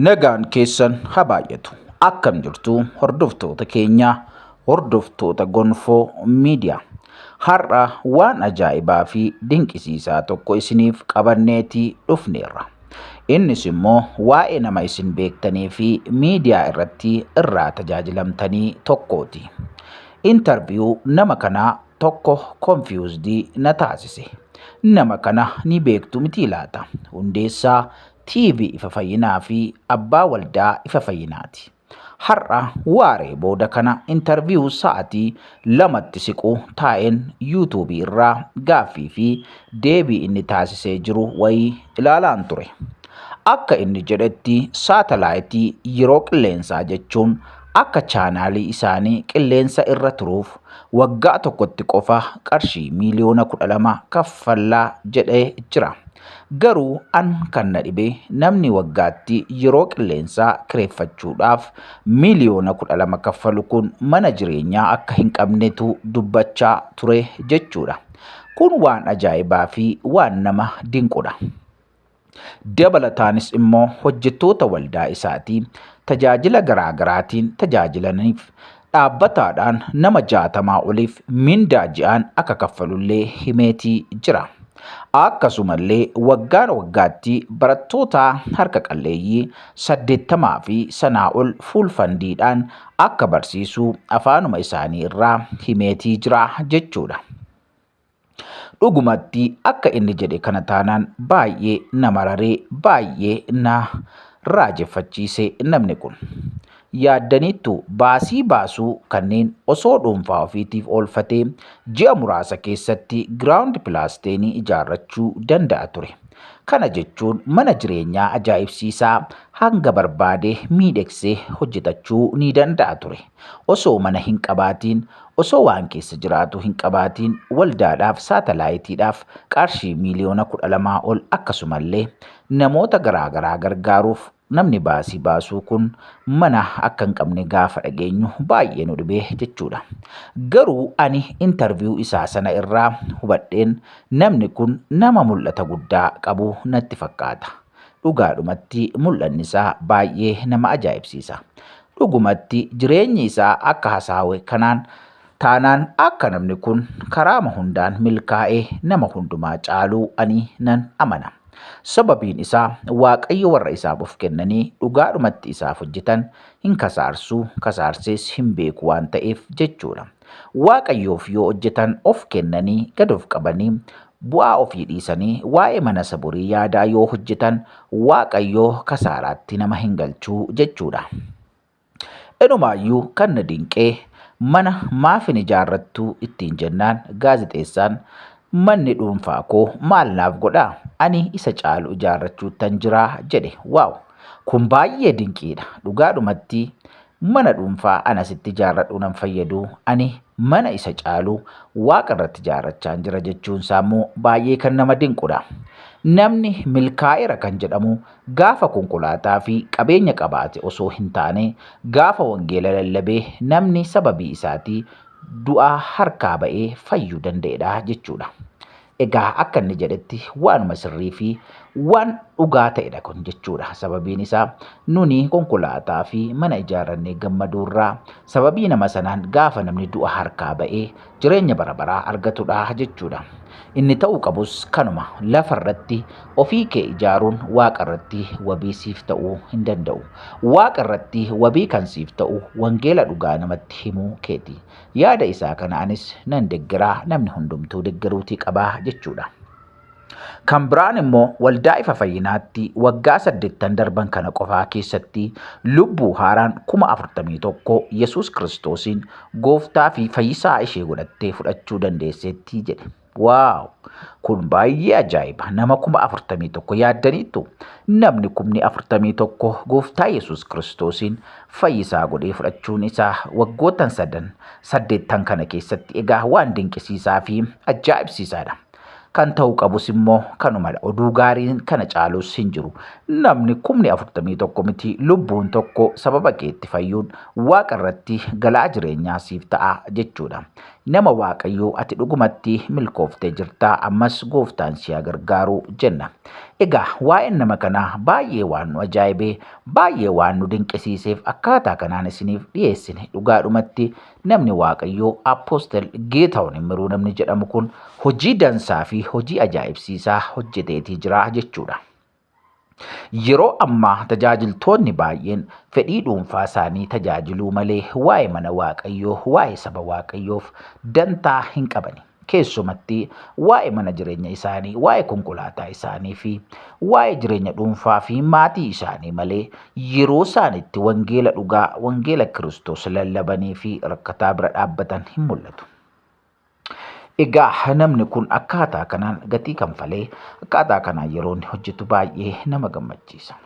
Nagaan keessan haa baay'atu. Akkam jirtu hordoftoota keenya, hordoftoota Gonfoo Miidiyaa. Har'a waan ajaa'ibaa fi dinqisiisaa tokko isiniif qabanneeti dhufneerra. Innis immoo waa'ee nama isin beektanii fi miidiyaa irratti irraa tajaajilamtanii tokkooti. Intarviyuu nama kanaa tokko konfiyuuzdii na taasise. Nama kana ni beektu mitii laata? Hundeessaa TV ifa fayyinaa fi abbaa waldaa ifa fayyinaati. Har'a waaree booda kana intarviyuu sa'atii lamatti siqu taa'een yuutuubii irraa gaaffii fi deebii inni taasisee jiru wayii ilaalaan ture. Akka inni jedhetti saatalaayitii yeroo qilleensaa jechuun Akka chaanaalii isaanii qilleensa irra turuuf waggaa tokkotti qofa qarshii miiliyoona 12 kaffallaa jedhee jira. Garuu an kan na dhibe namni waggaatti yeroo qilleensaa kireeffachuudhaaf miiliyoona 12 kaffalu kun mana jireenyaa akka hin qabnetu dubbachaa ture jechuudha. Kun waan ajaa'ibaa fi waan nama dinqudha. Dabalataanis immoo hojjettoota waldaa isaatii tajaajila garaa garaatiin tajaajilaniif dhaabbataadhaan nama jaatamaa oliif mindaa ji'aan akka kaffalullee himeetii jira. Akkasumallee waggaa waggaatti barattoota harka qalleeyyii saddeettamaa fi sanaa ol fuul fandiidhaan akka barsiisuu afaanuma isaanii irraa himeetii jira jechuudha. Dhugumatti akka inni jedhe kana taanaan baay'ee na mararee baay'ee na raajeffachiise namni kun. Yaaddaniittu baasii baasuu kanneen osoo dhuunfaa ofiitiif oolfatee ji'a muraasa keessatti giraawundi pilaasteenii ijaarrachuu danda'a ture. Kana jechuun mana jireenyaa ajaa'ibsiisaa hanga barbaade miidhegsee hojjetachuu ni danda'a ture. Osoo mana hin qabaatiin, osoo waan keessa jiraatu hin qabaatiin waldaadhaaf, saatalaayitiidhaaf qaarshii miiliyoona 12 ol akkasumallee namoota garaa garaa gargaaruuf namni baasii baasuu kun mana akka hin qabne gaafa dhageenyu baay'ee nu dhibee jechuudha. Garuu ani interview isaa sana irraa hubadheen namni kun nama mul'ata guddaa qabu natti fakkaata. Dhugaadhumatti mul'anni isaa baay'ee nama ajaa'ibsiisa. Dhugumatti jireenyi isaa akka hasaawe kanaan taanaan akka namni kun karaama hundaan milkaa'e nama hundumaa caaluu ani nan amana. Sababiin isaa Waaqayyo warra isaaf of kennanii dhugaadhumatti isaaf hojjetan hin kasaarsu, kasaarsees hin beeku waan ta'eef jechuudha. Waaqayyoof yoo hojjetan of kennanii, gad of qabanii, bu'aa ofii dhiisanii waa'ee mana isa borii yaadaa yoo hojjetan Waaqayyo kasaaraatti nama hin galchu jechuudha. Inumaayyuu kan na dinqee mana maaf hin ijaarrattu ittiin jennaan gaazexeessaan manni dhuunfaa koo maal naaf godha ani isa caalu ijaarrachuuttan jira jedhe waaw kun baay'ee dinqiidha dhugaadhumatti Mana dhuunfaa an asitti ijaarradhu nan fayyadu, ani mana isa caalu waaqa irratti ijaarrachaan jira jechuun isaa immoo baay'ee kan nama dinqudha. Namni milkaa'eera kan jedhamu gaafa konkolaataa fi qabeenya qabaate osoo hin taane gaafa wangeela lallabee namni sababii isaatii du'aa harkaa ba'ee fayyuu danda'edha jechuudha. Egaa akka inni jedhetti waanuma sirrii fi waan dhugaa ta'edha kun jechuudha. Sababiin isaa nuni konkolaataa fi mana ijaarrannee gammaduurraa sababii nama sanaan gaafa namni du'a harkaa ba'ee jireenya bara baraa argatudha jechuudha. Inni ta'uu qabus kanuma lafa irratti ofii kee ijaaruun waaqa irratti wabii siif ta'uu hin danda'u. Waaqa irratti wabii kan siif ta'u wangeela dhugaa namatti himuu keeti. Yaada isaa kana anis nan deggera, namni hundumtuu deggeruutii qaba jechuudha. Kan biraan immoo waldaa ifa fayyinaatti waggaa saddeettan darban kana qofaa keessatti lubbuu haaraan kuma afurtamii tokko Yesuus Kiristoosiin gooftaa fi fayyisaa ishee godhattee fudhachuu dandeesseetti jedhe. Waaw! Kun baay'ee ajaa'iba! Nama kuma afurtamii tokko yaaddaniittu. Namni kumni afurtamii tokko Gooftaa Yesuus Kiristoosiin fayyisaa godhee fudhachuun isaa waggootan sadan saddeettan kana keessatti egaa waan dinqisiisaa fi ajaa'ibsiisaadha. Kan ta'uu qabus immoo kanumadha. Oduu gaariin kana caalus hin jiru. Namni kumni afurtamii tokko miti lubbuun tokko sababa keetti fayyuun waaqa irratti galaa jireenyaa siif ta'a jechuudha. Nama Waaqayyoo ati dhugumatti milkooftee jirta ammas gooftaan si haa gargaaru jenna. Egaa waa'een nama kanaa baay'ee waan nu ajaa'ibe baay'ee waan nu dinqisiiseef akkaataa kanaan isiniif dhiyeessine dhugaadhumatti namni Waaqayyoo Apostel Geetaawun Immiruu namni jedhamu kun hojii dansaa fi hojii ajaa'ibsiisaa hojjeteetii jira jechuudha. Yeroo ammaa tajaajiltoonni baay'een fedhii dhuunfaa isaanii tajaajiluu malee waa'ee mana Waaqayyoo, waa'ee saba Waaqayyoof dantaa hin qabani. Keessumatti waa'ee mana jireenya isaanii, waa'ee konkolaataa isaanii fi waa'ee jireenya dhuunfaa fi maatii isaanii malee yeroo isaan itti wangeela dhugaa, wangeela Kiristoos lallabanii fi rakkataa bira dhaabbatan hin mul'atu. Egaa namni kun akkaataa kanaan gatii kanfalee akkaataa kanaan yeroo inni hojjetu baay'ee nama gammachiisa.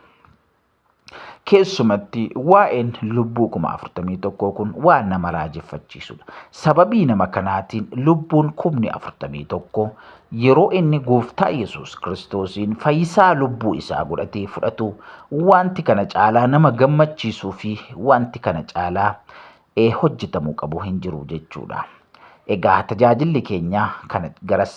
Keessumatti waa'een lubbuu kuma afurtamii tokkoo kun waan nama raajeffachiisudha. Sababii nama kanaatiin lubbuun kumni afurtamii tokko yeroo inni gooftaa Yesuus Kiristoosiin fayyisaa lubbuu isaa godhatee fudhatu wanti kana caalaa nama gammachiisuu fi wanti kana caalaa ee hojjetamuu qabu hin jiru jechuudha. Egaa tajaajilli keenya kana garas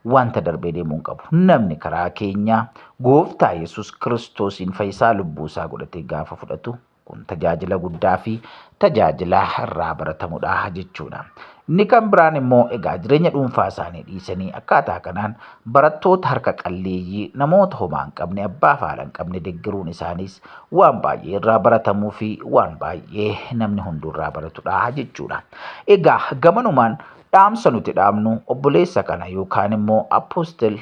wanta darbee deemuu hin qabu. Namni karaa keenya gooftaa Yesuus Kiristoosiin fayyisaa lubbuu isaa godhatee gaafa fudhatu kun tajaajila guddaa fi tajaajila irraa baratamudha jechuudha. Inni kan biraan immoo egaa jireenya dhuunfaa isaanii dhiisanii akkaataa kanaan barattoota harka qalleeyyii namoota homaa hin qabne abbaa fi haadha hin qabne deggeruun isaaniis waan baay'ee irraa baratamuu fi waan baay'ee namni hunduu irraa baratudha jechuudha. Egaa gamanumaan dhaamsa nuti dhaamnu obboleessa kana yookaan immoo apostel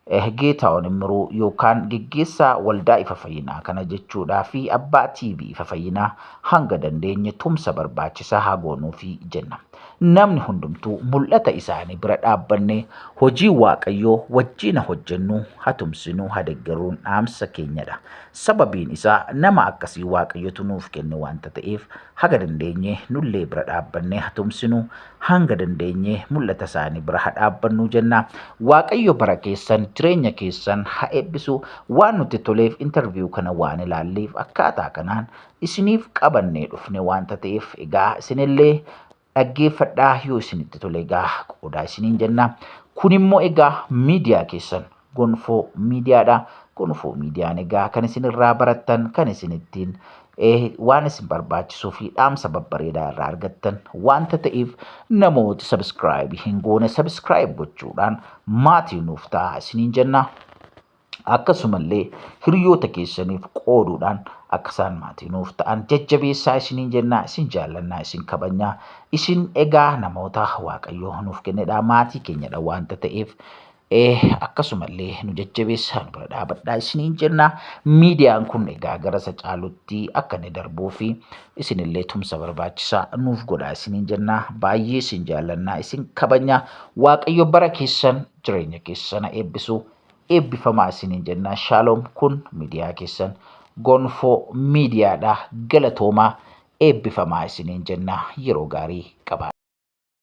Eh Geetaawoon Immiruu yookaan geggeessaa Waldaa Ifa Fayyinaa kana jechuudhaa fi abbaa TV Ifa Fayyinaa hanga dandeenye tumsa barbaachisaa haa goonuufi jenna. Namni hundumtuu mul'ata isaanii bira dhaabbannee hojii Waaqayyoo wajjiina hojjennu ha tumsinu ha deggerruun dhaamsa keenyadha. Sababiin isaa nama akkasii Waaqayyotu nuuf kenne wanta ta'eef haga dandeenye nullee bira dhaabbannee ha tumsinu hanga dandeenye mul'ata isaanii bira ha dhaabbannuu jenna. Waaqayyo bara keessan jireenya keessan ha eebbisu waan nutti toleef interview kana waan ilaalleef akkaataa kanaan isiniif qabannee dhufne wanta ta'eef egaa isinillee dhaggeeffadhaa yoo isinitti tole egaa qoodaa isiniin jenna. Kun immoo egaa miidiyaa keessan Gonfoo miidiyaadha. Gonfoo miidiyaan egaa kan isin irraa barattan, kan isin ittiin eh, waan isin barbaachisuu fi dhaamsa babbareedaa irraa argattan wanta ta'eef namooti sabiskiraayibii hin goone sabiskiraayib gochuudhaan maatii nuuf ta'aa isiniin jenna. Akkasumallee hiriyoota keessaniif qooduudhaan akka isaan maatii nuuf ta'an jajjabeessaa isiniin jenna, isin jaallannaa, isin kabajnaa. Isin egaa namoota Waaqayyoo nuuf kennedha, maatii keenyadha wanta ta'eef Eh, akkasumallee nu jajjabeessaa nu bira dhaabadhaa isiniin jenna. Miidiyaan kun egaa gara isa caalutti akka inni darbuu fi isinillee tumsa barbaachisaa nuuf godhaa isiniin jenna. Baay'ee isin jaallannaa isin kabajna. Waaqayyo bara keessan jireenya keessana eebbisu. Eebbifamaa isiniin jenna. Shaaloom kun miidiyaa keessan gonfoo miidiyaadha. Galatoomaa eebbifamaa isiniin jenna. Yeroo gaarii qabaa.